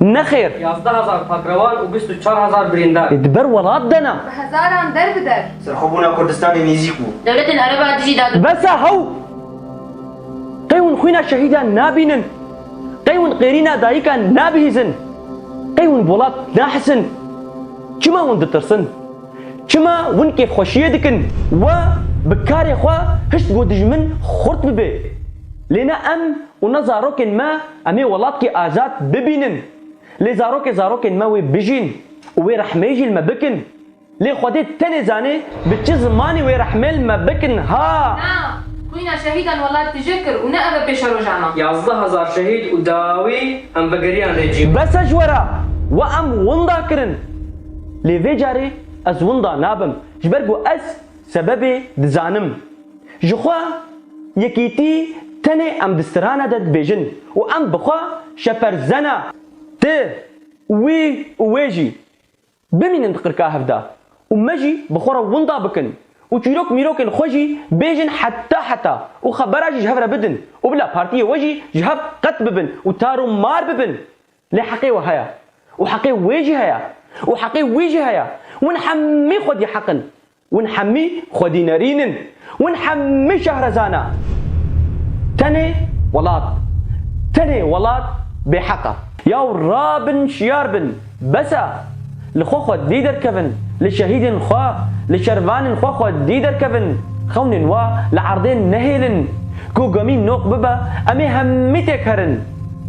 Nexêr! Yazdeh hezar takrewan û bîst û çar hezar birîndar. Li ber welat de ne. Bi hezaran der bi der. Serxwebûna Kurdistanê nêzîk bû. Dewletên Ereb a dijî da. Bes e hew! Qey hûn xwîna şehîdan nabînin, qey hûn qêrîna dayikan nabihîzin, qey hûn welat nahisin. Çima hûn ditirsin? Çima hûn kêfxweşiyê dikin? We bi karê xwe hişt ku dijmin xurt bibe. Lê ne em û ne zarokên me. Em ê welatkî azad bibînin. Lê zarokê zarokên me wê bijîn û wê rehmê jî li me bikin. Lê Xwedê tenê zanê bi çi zimanî wê rehmê li me bikin ha! Na, xwîna şehîdan welat tije kir û ne ev e pêşa roja me. Yazdeh hezar şehîd û dawî em vegeriyan rê cî. Bes e ji we re! We em winda kirin. Lê vê carê ez winda nabim. Ji ber ku ez sebebê dizanim. Ji xwe yekîtî tenê em di strana de dibêjin û em bi xwe şeperzena tu, wî û wê jî bimînin di qirka hev de û me jî bi xwe re winda bikin û çîrok mîrokên xwe jî bêjin heta heta û xebera jî ji hev re bidin û bila partiyê we jî ji hev qet bibin û tar û mar bibin. Lê heqê we heye û heqê wê jî heye û heqê wî jî heye. Hûn hemî xwedî heq in. Hûn hemî xwedînerîn in. Hûn hemî şehrezana. Tenê welat. Tenê welat bêheq e. Yaw rabin şiyar bin. Bes e. Li xwe xwedî derkevin. Li şehîdên xwe, li şervanên xwe xwedî derkevin. Xewnên we li erdê nehêlin. Ku gemî noq bibe em ê hemî têk herin.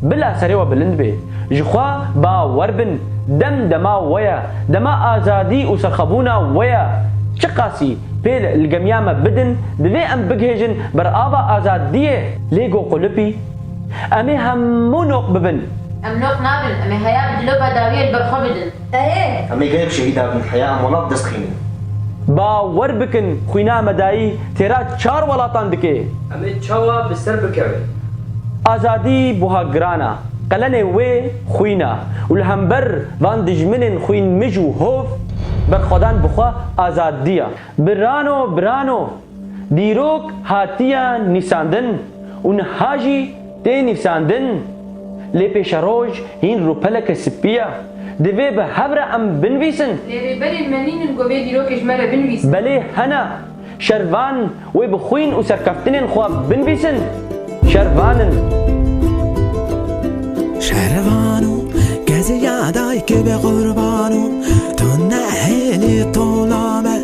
Bila serê we bilind bê. Ji xwe bawer bin. Dem dema we ye. Dema azadî û serxwebûna we ye. Çiqasî pêl li gemiya me bidin, divê em bigihêjin ber ava azadiyê. Lê go qulipî. Em ê hemû noq bibin. Em noq nabin. Em ê heya bi dilo bedawiyê li ber xwe bidin. Erê! Em ê gelek şehîda bin, heya em welat bi dest xînin. Bawer bikin xwîna me dayî têra çar welatan dike. Em ê çawa bi ser bikevin? Azadî buha giran a. Qelenê wê xwîn a û li hember van dijminên xwîn mij û hov, berxwedan bi xwe azadî a. Birano birano! Dîrok hatiye nîsandin û niha jî Tê nivîsandin, lê pêşeroj hîn rûpeleke spî ye. Divê bi hev re em binivîsin. Lê rêberên me nînin ku vê dîrokê ji me re binivîsin. Belê hene. Şervan wê bi xwîn û serkeftinên xwe binivîsin. Şervan in. Şervan û keziya dayikê bê qurban û tu nehêlî tola me.